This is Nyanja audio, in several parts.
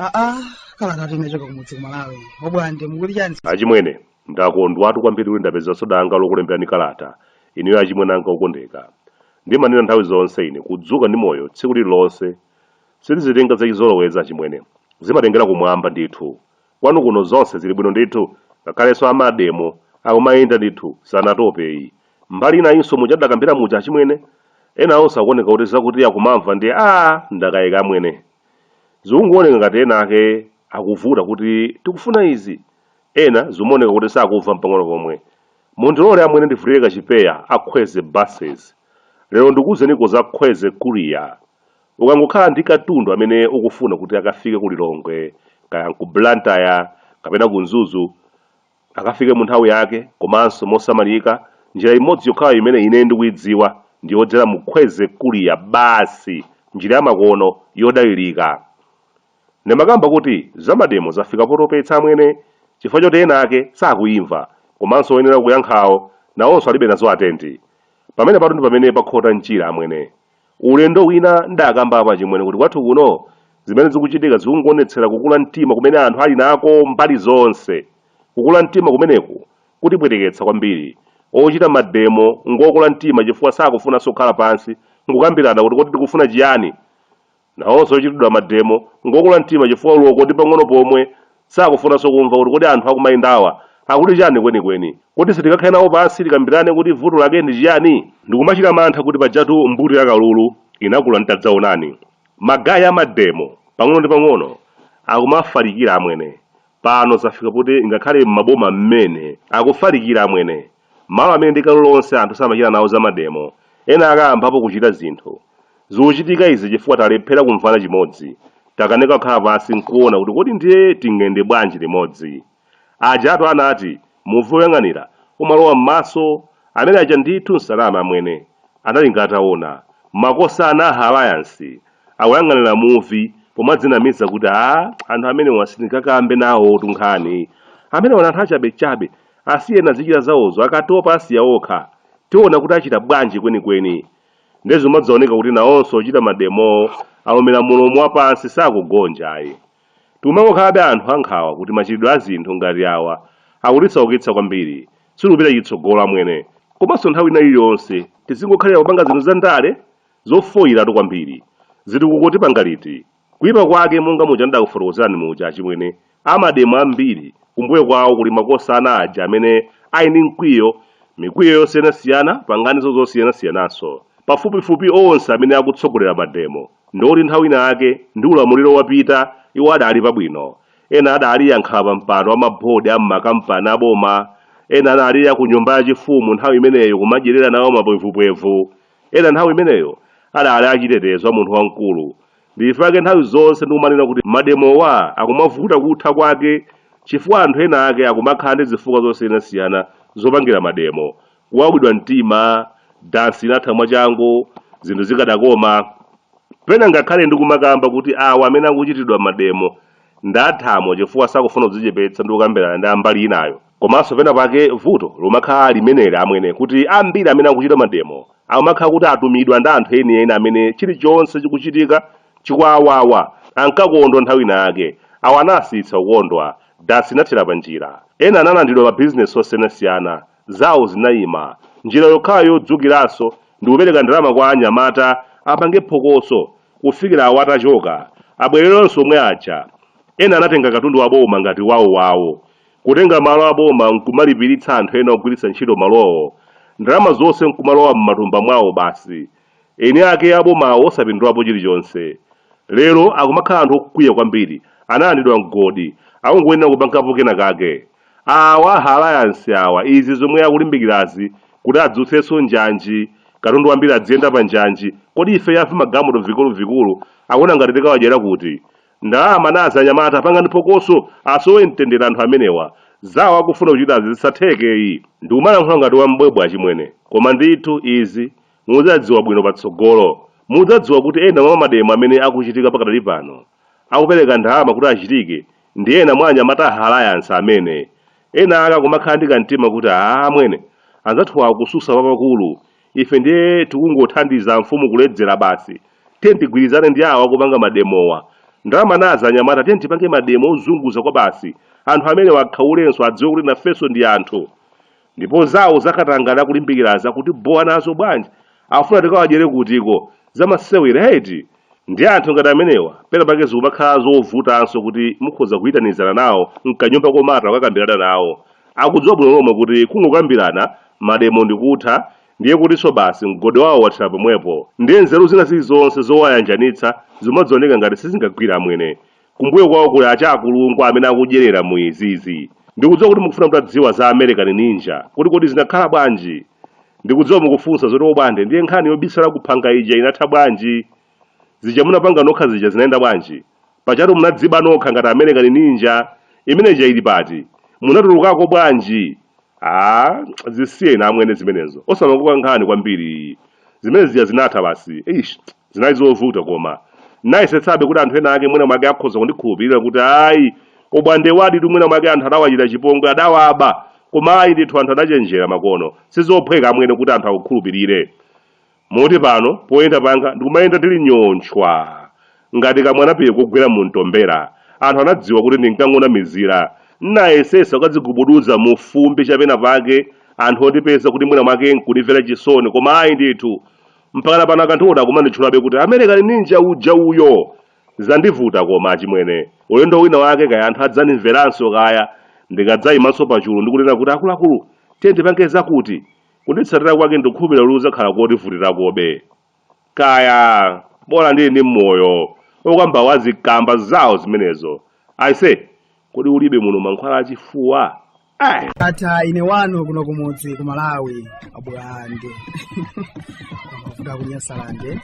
aa kalata yochoka kumudzi kumalawi bwande mukuti chani achimwene ndakondwatu kwambiri kuti ndapezanso danga lokulemberani kalata ineyo achimwene anga okondeka ndimanena nthawi zonse ine kudzuka ndi moyo tsiku lililonse Sindizitenga zachizolowezi achimwene. Zimatengera kumwamba ndithu. Kwanu kuno zonse zili bwino ndithu? Ngakhalenso a mademo akumayenda ndithu, sanatope ayi. Mbali inayinso muja tidakambira muja achimwene? Enawonso akuoneka kuti zakuti akumamva ndiye aah ndakayika amwene. Zikungooneka ngati ena ake akuvuta kuti tikufuna izi. Ena zikumaoneka kuti sakumva mpang'ono pomwe. Mundilole amwene ndivulire kachipewa a Khweze Buses. Lero ndikuuzeniko za Khweze Courier. Ukangokhala ndi katundu amene ukufuna kuti akafike ku Lilongwe, kaya n'ku Blantyre kapena ku Mzuzu, akafike mu nthawi yake komanso mosamalika, njira imodzi yokhayo imene ine ndikuidziwa ndi yodzera mu Khweze Courier basi, njira yamakono, yodalirika. Ndimakamba kuti za mademo zafika potopetsa amwene chifukwa choti ena ake sakuimva komanso oyenera kuyankhawo nawonso alibe nazo tenti. Pamenepatu ndi pamene pakhota mchira amwene. Ulendo wina n'dakambapo achimwene kuti kwathu kuno zimene zikuchitika zikungoonetsera kukula mtima kumene anthu ali nako mbali zonse. Kukula mtima kumeneku kutipweteketsa kwambiri. Ochita mademo ngokula mtima chifukwa sakufunanso kukhala pansi n'kukambirana kuti kodi tikufuna chiyani? Nawonso ochitidwa mademo ngokula mtima chifukwa oloko ndi pang'ono pomwe, sakufunanso kumva kuti kodi anthu akumayendawa akuti chani kwenikweni? Kodi sitingakhale nawo pansi tikambirane kuti vuto lake ndi chiyani? Ndikumachita mantha kuti pajatu mbuto ya kalulu inakula ndi tadzaonani. Ma guy a mademo pang'ono ndi pang'ono akumafalikira amwene, pano zafika poti ngakhale m'maboma mmene akufalikira amwene. Malo amene ndi kale lonse anthu samachita nawo za mademo, ena ake ayambapo kuchita zinthu. Zikuchitika izi chifukwa talephera kumvana chimodzi. Takanika kukhala pansi n'kuona kuti kodi ndiye tiyende bwanji limodzi. Pajatu anati, muvi woyang'anira umalowa m'maso. Amene aja ndithu sananame amwene. Analinga ataona. Makosana a Alliance akuyang'anira muvi pomadzinamiza kuti, ah, anthu amenewa sitingakambe nawotu nkhani. Amenewa ndi anthu achabechabe. Asiyeni azichita zawozo, akatopa asiya okha. Tiona kuti achita bwanji kwenikweni. Ndiye zimadzaoneka kuti nawonso ochita mademowo alumira mulomo wapansi sakugonja ayi. Tikumangokhalabe anthu ankhawa kuti machitidwe a zinthu ngati awa akutisaukitsa kwambiri, sitikupita chitsogolo amwene. Komanso nthawi ina iliyonse tizingokhalira kupanga zinthu zandale? Zofoiratu kwambiri. Zitukuko tipanga liti? Kuipa kwake monga muja ndidakufotokozerani muja achimwene amademo ambiri kumbuyo kwawo kuli makosana aja amene ali ndi mkwiyo mikwiyo yosiyanasiyana panganizo zosiyanasiyananso. Pafupifupi onse amene akutsogolera mademo ndi oti nthawi ina yake ndi ulamuliro wapita iwo adali pabwino. Ena adali ankhala pampando a mabodi a m'makampani a boma, ena anali a ku nyumba yachifumu nthawi imeneyo kumadyerera nawo mapwevupwevu. Ena nthawi imeneyo adali achitetezo a munthu wamkulu. Ndi chifukwa chake nthawi zonse ndikumanena kuti mademowa akumavuta kutha kwake chifukwa anthu ena ake akumakhala ndi zifukwa zosiyanasiyana zopangira mademo, kuwawidwa mtima, dansi inatha mwachangu, zinthu zikadakoma. Pena ngakhale ndikumakamba kuti awa amene akuchitidwa mademo ndathamo chifukwa sakufuna kudzichepetsa ndi kukambirana ndi a mbali inayo. Komanso pena pake vuto lumakhala limeneli amwene kuti ambiri amene akuchita mademo akumakhala kuti atumidwa ndi anthu eni eni amene chilichonse chikuchitika chikuawawa ankakondwa nthawi ina yake awa anasiyitsa kukondwa dansi inathera panjira ena analandidwa ma business osiyanasiyana zawo zinayima njira yokhayo yodzukiranso ndikupereka ndalama kwa anyamata apange phokoso kufikira awa atachoka abwererenso omwe aja ena anatenga katundu wa boma ngati wawo wawo Kutenga malo a boma n'kumalipiritsa anthu ena ogwiritsa ntchito malowo, ndalama zonse n'kumalowa m'matumba mwawo basi, eni ake a bomawo osapindulapo chilichonse. Lero akumakhala anthu okwiya kwambiri, analandidwa mgodi, akungoyenera kupangapo kenakake. Awa a Alliance awa izi zomwe akulimbikirazi kuti adzutsenso njanji, katundu wambiri adziyenda pa njanji, kodi ifeyo a vimagalimoto vikuluvikulu akuona ngati tikawadyera kuti? Ndalama nazi anyamata pangani phokoso asowe mtendere anthu amenewa zawo akufuna kuchitazi zisatheke yi. Ndikumalankhula ngati wam'bwebwe achimwene koma ndithu izi mudzadziwa bwino patsogolo. Mudzadziwa kuti ena mwa mademo amene akuchitika pakadali pano akupereka ndalama kuti achitike ndi ena mwa anyamata a Alliance amene ena ake akumakhala ndi kamtima kuti amwene anzathuwa akususa papakulu ife ndiye tikungothandiza mfumu kuledzera basi tiye tigwirizane ndi awa akupanga mademowa ndalama nazi anyamata tiye tipange mademo ozunguza kwabasi anthu amenewa akhaulenso adziwe kuti nafenso ndi anthu ndipo zawo zakatangale akulimbikirazi akutibowa nazo bwanji afuna tikawadyere kutiko zamasewera eti Ndiye anthu ngati amenewa pena pake zikumakhala zovutanso kuti mukhoza kuyitanizana nawo m'kanyumba komata kukakambirana nawo. Akudziwa bwino lomwe kuti kungokambirana, mademo ndi kutha, ndiye kutinso basi mgodi wawo wathera pomwepo. Ndiye nzeru zina zilizonse zowayanjanitsa zimadzioneka ngati sizingagwire amwene. Kumbuyo kwawo kuli atchakulungwa amene akudyerera mu izizi. Ndikudziwa kuti mukufuna mutadziwa za American Ninja, kuti kodi zinakhala bwanji? Ndikudziwa mukufunsa zoti obwande ndiye nkhani yobisala ku phanga ija inatha bwanji? Zija munapanga nokha zija zinayenda bwanji? Pajatu munadziba nokha ngati American Ninja, imene ija ili pati? Munatulukako bwanji? Aaa zisiyeni amwene zimenezo osamakoka nkhani kwambiri zimene zija zinatha basi eish zinali zovuta koma nayesetsabe kuti anthu ena ake mwina mwake akhoza kundikhulupirira kuti ayi obwandewaditu mwina mwake anthu adawachita chipongwe adawaba koma ayi ndithu anthu adachenjera makono sizophweka amwene kuti anthu akukhulupirire Moti pano poyenda panga ndikumayenda ndili nyontchwa ngati kamwanapiye kugwera mumtombera. Anthu anadziwa kuti ndinkangonamizira. N'nayesetsa kukadzigubuduza mu fumbi cha pena pake anthu ondipeza kuti mwina mwake n'kundimvera chisoni koma ayi ndithu! Mpakana pano akandiona akumanditchulabe kuti American Ninja uja uyo! Zandivuta koma achimwene. Ulendo wina wake kaya anthu adzandimveranso kaya ndikadzaimanso pachulu ndi kunena kuti akuluakulu tiyeni tipange zakuti! Kunditsatira kwake ndikukhulupirira kuti kudzakhala kondivutirakobe. Kaya, bola ndili ndi moyo. Okambawo azikamba zawo zimenezo. Aise, kodi ulibe muno mankhwala a chifuwa? Eh! Atha ine wanu kuno kumudzi ku Malawi abwande kuda ku Nyasalande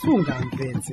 sungamvetse